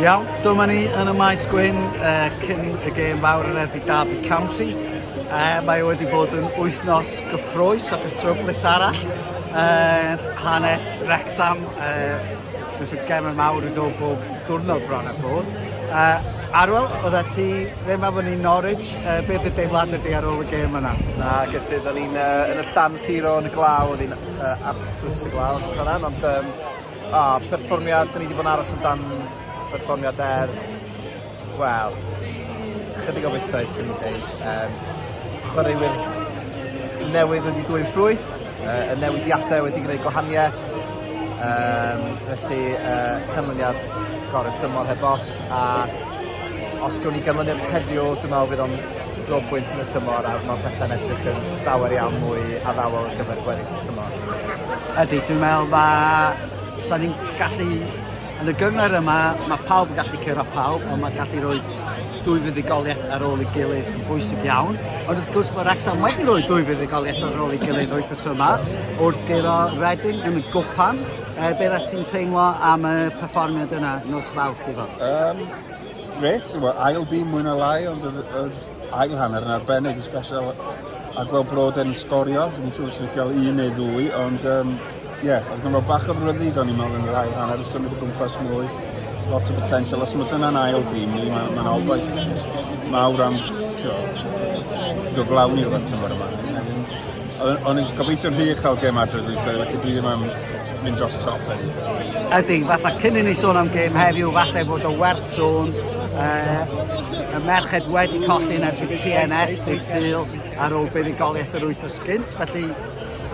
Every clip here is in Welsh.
Iawn, dyma ni yn y maes gwyn uh, cyn y gêm fawr yn erbyn Derby County. Uh, mae e wedi bod yn wythnos gyffroes ac yn tryflus arall. Uh, hanes Rexham, uh, jyst y gem yn mawr yn dod bob diwrnod bron a bod. Uh, Arwel, oedd ti ddim efo ni Norwich, uh, beth y deimlad ydy ar ôl y gêm yna? Na, gyda, o'n i'n uh, yn y llan siro yn y glaw, o'n i'n uh, absolut y glaw, ond um, O, perfformiad, dyn ni wedi bod yn aros amdan perfformiad ers, wel, chydig o fisoedd sy'n mynd dweud. Um, chwaraewyr newydd wedi dwy'n ffrwyth, uh, y newidiadau wedi gwneud gwahaniaeth, um, felly uh, canlyniad gorau tymor heb os, a os gwn i ganlyniad heddiw, dwi'n meddwl bydd o'n dro bwynt yn y tymor a mae pethau'n edrych yn llawer iawn mwy addawol ar gyfer gweddill y tymor. Ydy, dwi'n meddwl mae... Sa'n ni'n gallu... Yn y gyngor yma, mae pawb yn gallu cyrra pawb, ond mae'n gallu rhoi dwy fuddugoliaeth ar ôl ei gilydd yn bwysig iawn. Ond wrth gwrs mae Wrexham wedi rhoi dwy fuddugoliaeth ar ôl ei gilydd wythnos yma, wrth gyro Reading yn y gwpan. E, beth a ti'n teimlo am y perfformiad yna nos fawrth i fod? Um, Reit, ail dim mwy na lai, ond Ail hanner yn arbennig yn special a gweld brod yn sgorio, ni'n siŵr sy'n cael un neu ddwy, ond um, ie, yeah, oedd gymryd bach o ryddid o'n i'n meddwl yn yr ail hanner, ys symud o gwmpas mwy, lot o potential, os mae dyna'n ail dîm ni, mae'n ma obaith mawr am gyflawni rhywbeth tymor yma. Ond yn gobeithio'n rhy uchel gem adre dweud, felly dwi ddim am mynd dros y top hefyd. Ydy, fatha cyn i ni sôn am gêm heddiw, falle fod o werth sôn. Uh, y merched wedi colli yn erbyn TNS dy syl ar ôl buddugoliaeth yr wythnos gynt, felly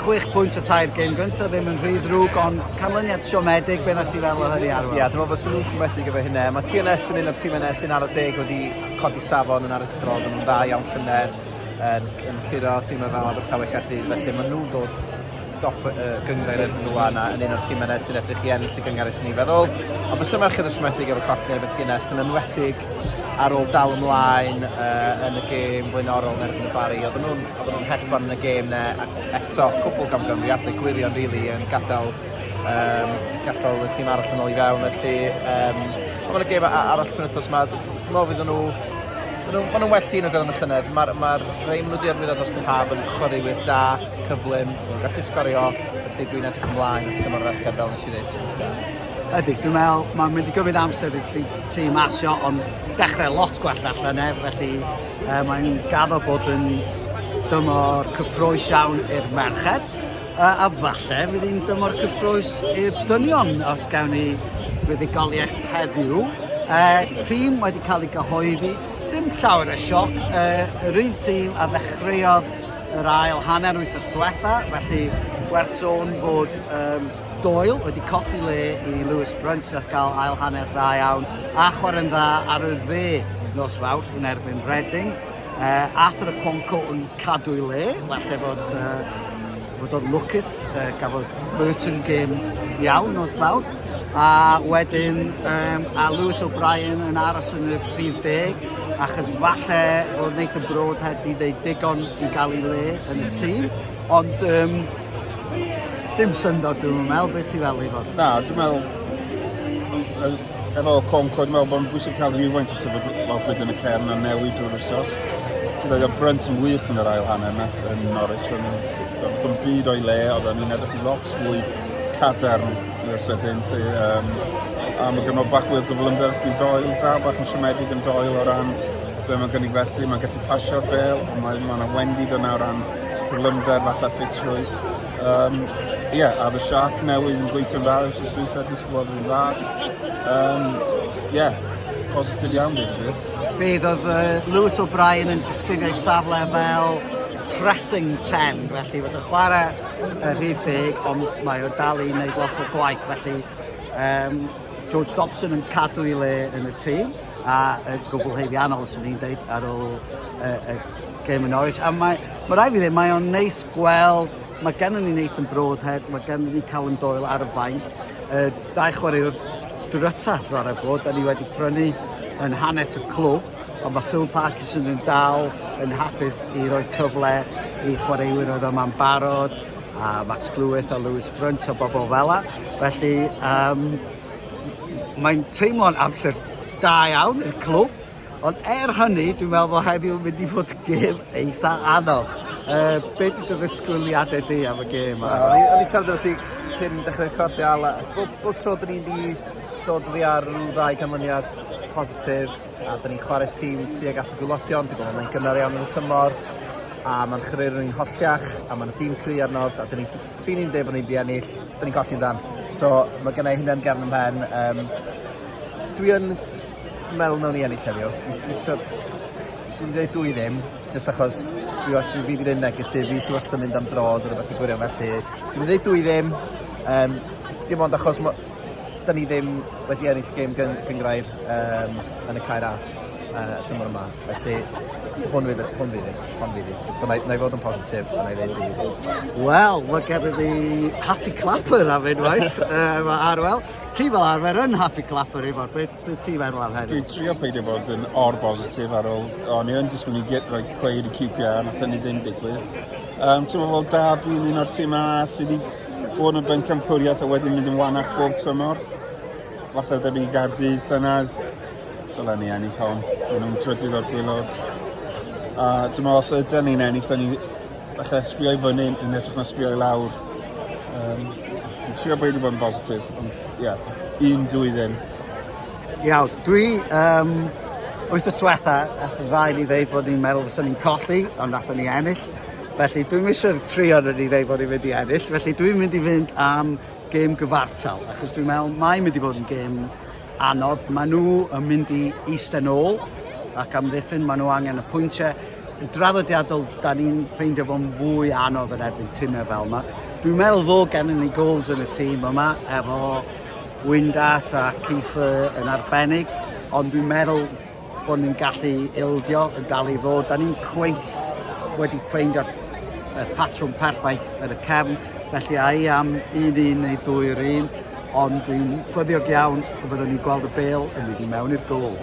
6 pwynt o tair gêm gyntaf ddim yn rhy ddrwg, ond canlyniad siomedig, beth ti fel o hynny arwel? Ie, dwi'n meddwl fod nhw'n siomedig efo hynna. Mae TNS yn un o'r tîm yna sy'n ar y deg wedi codi safon yn aruthrol, yn dda iawn llynedd, yn, yn curo tîmau fel Abertawe Caerdydd, felly maen nhw'n dod dop y gynghrair erbyn y wan a yn un o'r timau yna sy'n edrych i ennill y gynghrair sy'n i'n feddwl. Ond bysa merched yn siomedig efo colli ar y TNS yn enwedig ar ôl dal ymlaen uh, yn y gêm flaenorol yn erbyn y Bari. Oedden nhw'n nhw hedfan yn y gêm na eto cwbl gamgymeriadau gwirion rili really, yn gadael um, gadael y tîm arall yn ôl i fewn felly um, ond yn y gêm arall penwthos yma dwi'n meddwl fydden nhw Maen nhw'n well tîn o gyda'n y llynedd. Mae'r ma rei maen nhw wedi arwyddo dros y haf yn chwaraewyr da. cyflym, dwi'n gallu sgorio, felly dwi'n edrych ymlaen at tymor ferched fel nes i ddeud ti'n weithiau. Ydy, dwi'n meddwl, mae'n mynd i gymryd amser i ti tîm asio, ond dechrau lot gwell na llynedd, felly e, mae'n gaddo bod yn dymor cyffroes iawn i'r merched, a, a falle fydd hi'n dymor cyffroes i'r dynion os gawn ni fuddugoliaeth heddiw. E, tîm wedi cael ei gyhoeddi, dim llawer o sioc, e, yr un tîm a ddechreuodd yr ail hanner wythnos diwetha, felly werth sôn fod um, Doyle wedi colli le i Lewis Brunt sy'n cael ail hanner dda iawn a chwarae'n dda ar y dde nos fawrth yn erbyn Reading. Uh, Arthur y Cwonco yn cadw i le, falle fod uh, bod o'n lwcus, uh, gafodd Burton gêm iawn nos fawrth. A wedyn um, a Lewis O'Brien yn aros yn y prif deg, achos falle bod Nathan Broad heb di ddeud digon i gael ei le yn y tîm, ond um, dim syndod dwi'n meddwl, beth ti'n fel i fod? Na, dwi'n meddwl, efo Conco, dwi'n meddwl bod yn bwysig cael rhywfaint o sefyd lawfryd yn y cefn a newid drwy'r wrthos. Ti'n dweud o brynt yn wych yn yr ail hanner yna, yn Norwich, ond wrth yn byd o'i le, oedd yn edrych yn lot fwy cadarn i'r sydyn 'lly yym a ma' gynno bachwyr gyflymder sy'n doi dra bach yn siomedig yn doel o ran be' ma'n gynnig felly ma'n gallu pasio'r bêl a mae ma' 'na wendid yna o ran cyflymder falle ffitrwydd yym ie a o'dd y siâp newydd yn gweithio'n dda wsos dwytha disgwylodd yn dda yym ie positif iawn deud y gwir. Bydd oedd uh, Lewis O'Brien yn disgrifio'i safle fel pressing 10 felly fod y chwarae y rhif deg, ond mae o dal i wneud lot o gwaith, felly um, George Dobson yn cadw i le yn y tîm, a y gwbl heiddiannol, sy'n ni'n dweud, ar ôl y, y gêm yn Norwich. A mae, mae rai fi ddim, mae o'n neis gweld, mae gennym ni Nathan Broadhead, mae gennym ni Callum Doyle ar y fain, y dau chwaraewr dryta, rhaid bod, da ni wedi prynu yn hanes y clwb, Ond mae Phil Parkinson yn dal yn hapus i roi cyfle i chwaraewyr oedd yma'n barod, a Max Clwyth a Lewis Brunt a bobl fel la. Felly, um, mae'n teimlo'n amser da iawn i'r clwb, ond er hynny, dwi'n meddwl bod heddiw yn mynd i fod gêm eitha anodd. Uh, be di dy ddisgwyliadau di am y gêm? yma? O'n i'n siarad efo ti cyn dechrau recordio, Ala, bob, bob tro dyn ni'n di dod oddi ar rhyw ddau canlyniad, positif a 'da ni'n chware tîm tuag at y gwyllodion, dwi'n meddwl mae'n gynnar iawn yn y tymor a mae'n chreru rhywun holltiach a mae'n dîm cry ar nod a 'da ni trin ni'n dweud bod ni'n di ennill, 'da ni'n colli'n dan. So mae gennau hynna yn gefn ymhen. Um, dwi yn meddwl nawn ni ennill heddiw. Dwi'n siwr dwi'n dweud dwy ddim, jyst achos dwi, os dwi fydd i'n negatif, fi sy'n wastad yn mynd am dros ar y fath i gwirion felly. Dwi'n dweud dwy ddim, um, dim ond achos 'da ni ddim wedi ennill gêm gyn- gynghrair um, yn y cair as uh, y tymor yma. Felly, hwn fydd, hwn fydd, hwn fydd. So, na, na i fod yn positif, na i ddeud i. Wel, mae gen i happy clapper am unwaith, uh, mae Arwel. Ti fel arfer yn happy clapper i fod beth. Be ti'n meddwl am hynny? Dwi'n trio peidio bod yn or bositif ar ôl... O'n i yn disgwyl ni get rhoi cweir i QPR, nath hynny ddim digwydd. Um, ti'n meddwl da bwy'n un o'r tîmau sydd wedi bod yn bencampwriaeth a wedyn mynd yn wanach bob tymor. Falle debyg i Gardydd llynedd. Dylen ni ennill hon. Maen nhw'n drydydd o'r gwylod. A dwi'n meddwl os ydyn ni'n ennill, da ni Falle sbio i fyny yn edrych na sbio i lawr. Um, trio beidio bod yn bositif, ond ie, yeah, un dwy ddim. Iawn, dwi um, wyth y swetha, ddau ni ddeud bod ni'n meddwl fyswn ni'n colli, ond nath ni ennill. Felly dwi'n eisiau tri o'n ni ddeud bod ni'n mynd i ennill, felly dwi'n mynd i fynd am gêm gyfartal, achos dwi'n meddwl mae'n mynd i fod yn gêm anodd. Maen nhw yn mynd i eistedd nôl ac amddiffyn, maen nhw angen y pwyntiau. Yn draddodiadol, da ni'n ffeindio fo'n fwy anodd yn erbyn tîmau fel yma. Dwi'n meddwl fod gennym ni gols yn y tîm yma, efo Windass a Keith yn arbennig, ond dwi'n meddwl bod ni'n gallu ildio yn dal i fod. Da ni'n cweit wedi ffeindio y patrwm perffaith yn y cefn, felly a i am un un neu ddwy'r un, ond dwi'n ffyddiog iawn y byddwn ni'n gweld y bel yn mynd i mewn i'r gol.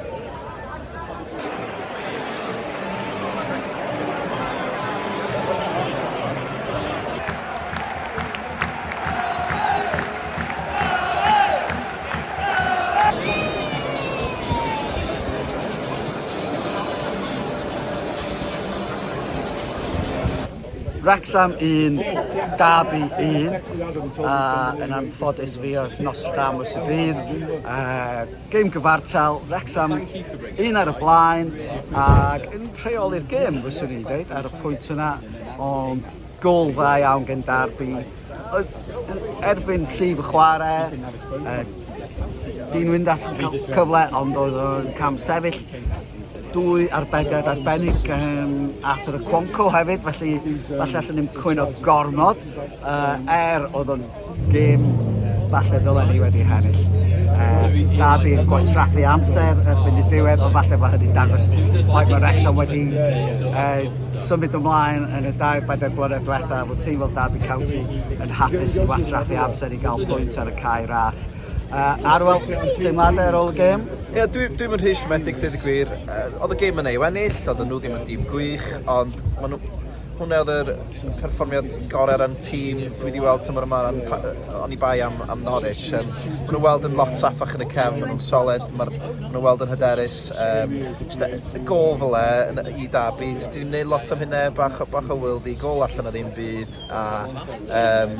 Wrecsam 1, Derby 1, a yn anffodus fi oedd Nostradamus y dydd. Uh, gêm gyfartal, Wrecsam un ar y blaen, ac yn rheoli'r gêm, fyswn i'n dweud, ar y pwynt yna, ond Gôl dda iawn gen Derby. Erbyn llif y chwarae, Dean Windass yn cael cyfle ond oedd o'n cam sefyll. Dwy arbediad arbennig gan Arthur y Cwonco hefyd, felly falle allwn ni'n cwyno gormod. Er oedd o'n Gêm falle ddylen ni wedi hennill. Uh, na fi'n gwastraffu amser erbyn y diwedd, ond falle bod hynny'n dangos faint mae Wrexham wedi uh, symud ymlaen yn y dair bedair blynedd diwetha. Fod tîm fel Derby County yn hapus i wastraffu amser i gael pwynt ar y cae ras. Uh, Arwel, teimladau ar ôl y gêm? Ie, yeah, dwi'n dwi rhy siomedig, dweud y gwir. Uh, oedd y gêm yn ei wennill, oedd nhw ddim yn dîm gwych, ond maen nhw Hwnna oedd yr perfformiad gorau yn tîm dwi wedi weld tymor yma yn oni bai am, am Norwich. Um, maen nhw'n weld yn lot safach yn y cefn, maen nhw'n solid, maen nhw'n weld yn hyderus. Um, just y gol fel e i dabu, ti wedi gwneud lot am hynna, bach, bach o wyl di, gol allan o ddim byd, a um,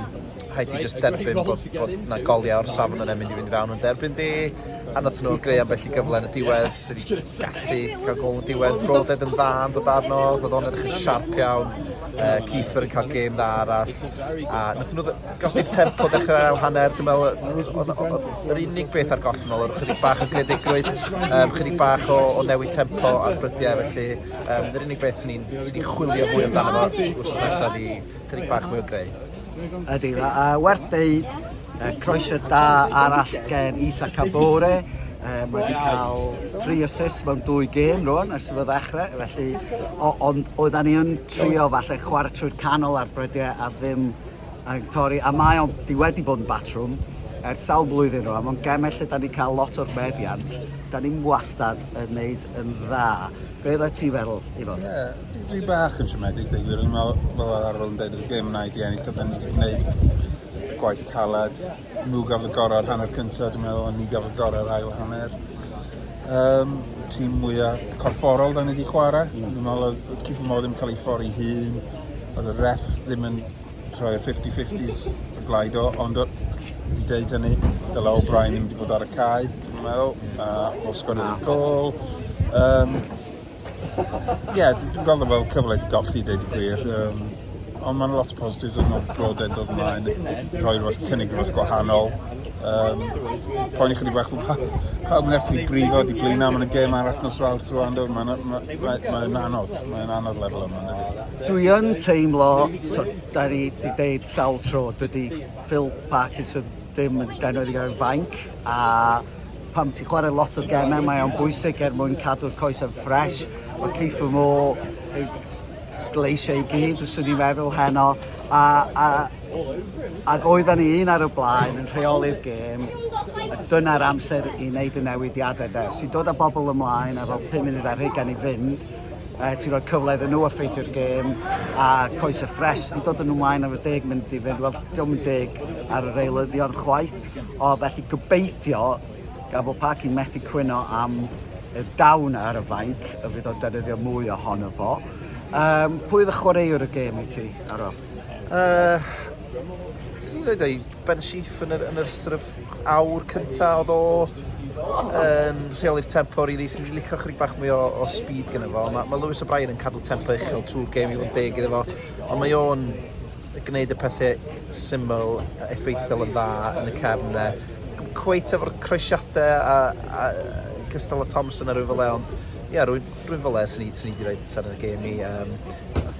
hai ti just derbyn bod, bod na goliau o'r safon yn emyn i fynd i fewn, ond derbyn di, a nath nhw greu ambell i gyfle yn y diwedd. Ti 'di gallu ca'l gol yn diwedd, Brawded yn dda yn dod arno, ro'dd o'n edrych yn sharp iawn, yy Kieffer yn ca'l gêm dda arall, a nathon nw ddy- golli'r tempo dechre ail hanner dwi me'wl yy o' 'na o' o' s- yr unig beth ar goll nôl odd ychydig bach o greadigrwydd yym chydig bach o o newid tempo a brydie felly yym yr unig beth swn i'n swn i'n chwilio mwy amdano fo wthnos nesa 'di chydig bach mwy o greu. Ydy, a werth deud, croeso da arall gen Isa Kabore, Um, mae wedi cael tri asus mewn dwy gêm rwan ers y ddechrau, felly o, ond oedden ni yn trio falle chwarae trwy'r canol ar brydiau a ddim yn torri, a mae o'n di wedi bod yn batrwm ers sawl blwyddyn rwan, mae'n gemau lle da ni cael lot o'r meddiant, da ni'n wastad yn neud yn dda. Be oeddet ti'n feddwl, Ifon? Ie, yeah, dwi bach yn siomedig, dweud gwir. O'n i'n meddwl, fel ar arol yn dweud, y gêm yna i di ennill, oedd yn gwneud gwaith caled. Nhw gafodd y gorau ar hanner cyntaf, dwi'n meddwl, ond ni gafodd y gorau ar ail hanner. Um, tîm mwyaf corfforol da ni wedi chwarae. Mm. Dwi'n meddwl oedd Cifo Mo ddim cael ei ffori hun. Oedd y ref ddim yn Rhoi'r fifty fifties y blaid o, ond wedi deud hynny, dyla O'Brien ddim wedi bod ar y cae, dwi'n meddwl, a o sgwrdd y gol. Um, Ie, yeah, dwi'n gweld o fel cyfle wedi golli, dweud y gwir. Um, ond mae'n lot o positif yn o'r bod e'n dod ymlaen, rhoi rhywbeth cynnig rhywbeth gwahanol. Um, poen i chydig bach o pawb yn effi brifo di blina, mae'n y gêm arall nos rawr trwy ando, mae'n anodd, mae'n anodd lefel yma. Dwi yn teimlo, tibod, da ni wedi deud sawl tro, dydy Phil Parkinson ddim yn genod i gael fainc, a pam ti'n chwarae lot o gemau, mae o'n bwysig er mwyn cadw'r coes yn ffres. Mae Keith Mo yn gleisio i gyd, os i'n meddwl heno, a, a, ac oedden ni un ar y blaen yn rheoli'r gêm, dyna'r amser i wneud y newidiadau de. Os ti'n dod â bobl ymlaen efo 5 munud ar hugain i fynd, uh, ti'n rhoi cyfle iddyn nhw effeithio'r gêm a coes y ffres i dod yn ymlaen ar y deg mynd i fynd. Wel, diolch yn deg ar yr eilyddion chwaith, o felly gobeithio gan bod Parc yn methu cwyno am y dawn ar y fainc, y fydd o'n defnyddio mwy ohono fo. Um, pwy oedd y chwaraewr y gêm i ti, Aro? Uh, Ti'n rhaid ei Ben Sheaf yn yr, yn yr sort of awr cynta odd o yn rheoli'r tempo rili swn i'n licio chydig bach mwy o o speed gynno fo ma' ma' Lewis O'Brien yn cadw tempo uchel trw'r gêm i fod yn deg iddo fo ond mae o'n gneud y pethe syml yy effeithiol yn dda yn y cefn 'ne. Dim cweit efo'r croesiade a a yy cystal â Thompson a rywun fel 'e ond ie rwy'n Rwy'n fele, sy'n ni, ni di rhaid tan y gêm ni. Um,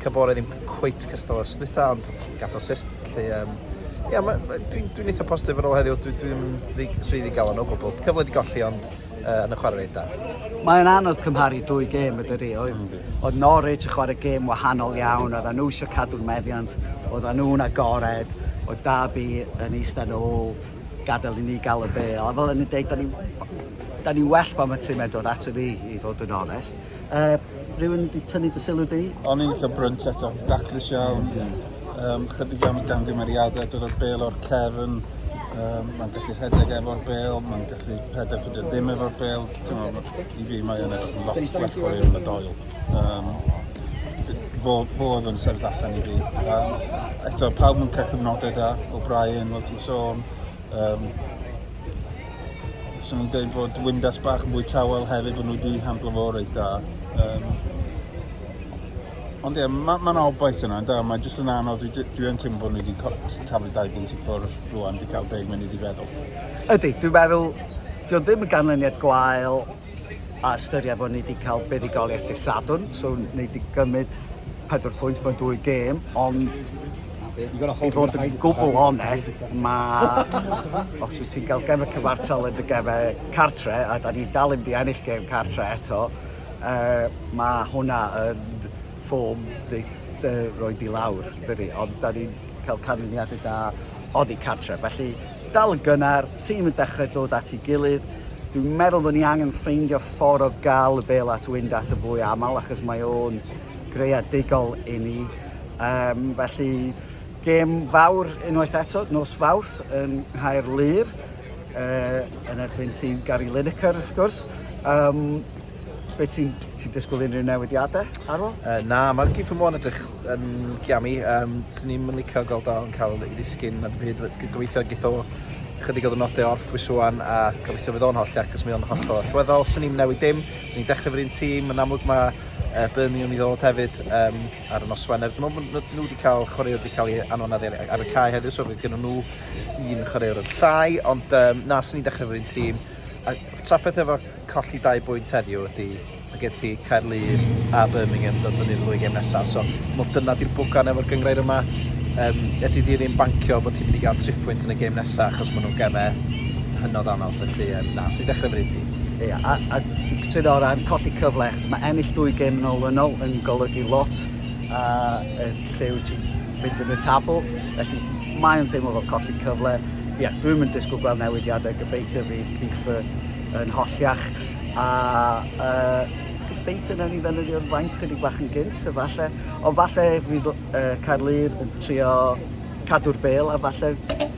Cabore ddim cweit cystal os dwytha, ond gath o sist. Felly, um, ia, ma, ma, dwi'n dwi eitha positif ar ôl heddiw, dwi'n dwi, dwi, dwi rhaid i gael o'n o gwbl. Cyfle di golli, ond uh, yn y chwarae da. Mae'n anodd cymharu dwy gêm y dydy, oedd, mm. oedd Norwich yn chwarae gêm wahanol iawn, oedd nhw eisiau cadw'r meddiant, oedd nhw'n agored, oedd Darby yn eistedd ôl, gadael i ni gael y bêl. A fel o'n i'n deud, da ni, da ni well pan mae tîm dod ato ni, i fod yn onest. Uh, rhywun wedi tynnu dy sylw di? O'n i'n eitha brynt eto, daclus iawn. Um, chydig iawn o gamgymeriadau, dod o'r bêl o'r cefn. Um, mae'n gallu rhedeg efo'r bêl, mae'n gallu rhedeg pryd ddim efo'r bêl. I fi, mae'n edrych yn lot gwell o'r un yn y doel. Um, fo, fo oedd yn sefyll allan i fi. Um, eto, pawb yn cael cyfnodau da, O'Brien, fel ti'n sôn. Um, Swn i'n dweud bod Windas bach yn fwy tawel hefyd, bod nhw wedi handlo fo reit da. Um, Ond ie, yeah, mae'n ma, obaith yna, da, mae jyst yn anodd, dwi, dwi yn teimlo bod nhw wedi taflu dau bwynt i ffwrdd rwan, wedi cael deg munud i feddwl. Ydy, dwi'n meddwl, dwi'n ddim yn ganlyniad gwael, a ystyried fod ni wedi cael buddugoliaeth dydd Sadwrn, so ni wedi gymryd pedwar pwynt mewn dwy gêm, ond i fod yn gwbl onest, mae... os wyt ti'n cael gem y cyfartal yn dy gefau cartre, a da ni dal i mynd i ennill gem cartre eto, uh, mae hwnna yn ffom neith yy roid i lawr dydi ond 'da ni'n cael canlyniade da oddi cartre felly dal yn gynnar, tîm yn dechrau dod at ei gilydd dwi'n meddwl bod ni angen ffeindio ffordd o gael y bêl at Windass yn fwy aml achos mae o'n greadigol i ni um, felly gêm fawr unwaith eto nos Fawrth yn Nghaerlŷr uh, yn erbyn tîm Gary Lineker wrth gwrs um, Wyt ti'n ti disgwyl unrhyw newidiadau ar ôl? Uh, na, mae'r gig fy mwyn edrych yn giami. Um, Swn i'n mynd licio gael da yn cael ei ddisgyn na byd. Gobeithio gith o chydig o ddynodau orff fwy swan a gobeithio fydd o'n holl ac os mae o'n holl o allweddol. Swn i'n newid dim, swn i'n dechrau fod un tîm, yn amlwg mae uh, Birmingham i ddod hefyd um, ar y nos Wener. Dwi'n meddwl bod nhw wedi cael chwaraewr wedi cael ei anonad ar, ar y cae heddiw, so roedd gen nhw un chwaraewr yn llai, ond um, na, swn i'n dechrau fod un tîm. A trafferth efo colli dau bwynt heddiw ydy mae gen ti Caerlŷr a Birmingham yn dod fyny yn y ddwy gem nesaf. So, mod dyna di'r bwgan efo'r gyngrair yma. Um, e ti ddim yn bancio bod ti'n mynd i gael tri pwynt yn y gem nesaf achos maen nhw'n gemau hynod anodd. Felly, um, na, sy'n dechrau fyny ti? Ie, yeah, a, a cytuno o ran colli cyfle, achos mae ennill dwy gem yn olynol yn golygu lot a uh, lle wyt ti'n mynd yn y tabl. Felly, mae'n teimlo fel colli cyfle. Ie, yeah, dwi'n mynd disgwyl gweld newidiadau. Gobeithio fydd Kiefer yn holl iach a yy gobeithio nawn ni ddefnyddio'r fainc chydig bach yn gynt a falle ond falle fydd yy Caerlŷr yn trio cadw'r bel a falle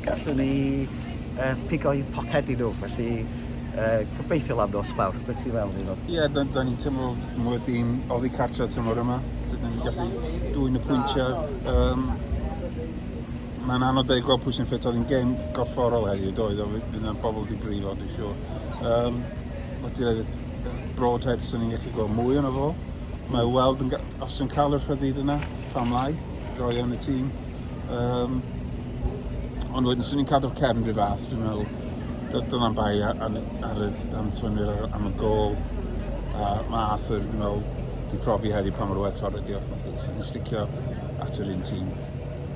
gallwn ni yy pigo un poced i nhw felly yy gobeithio am nos Fawrth beth ti'n feddwl Iwan? Ie da, da ni'n teimlo mod wedi'n oddi cartre tymor yma sut ni'n gallu dwyn y pwyntiau um, mae'n anodd dweud gweld pwy sy'n ffit, oedd hi'n gêm gorfforol heddiw, doedd, oedd fydd yna bobl wedi brifo, dwi'n siŵr. Um, Mae ti'n rhaid Broadhead sy'n ni'n gallu gweld mwy yna fo. Mae weld yn, os ti'n cael y rhyddid yna, pam lai, roi yn y tîm. Um, ond wedyn, sy'n ni'n cadw'r cefn rhyw fath, dwi'n meddwl, dyna'n bai ar, ar, ar y danthwynwyr am y gol. Uh, mae Arthur, dwi'n meddwl, wedi profi heddi pa mor werthfawr ydi o. Mae'n sticio at yr un tîm.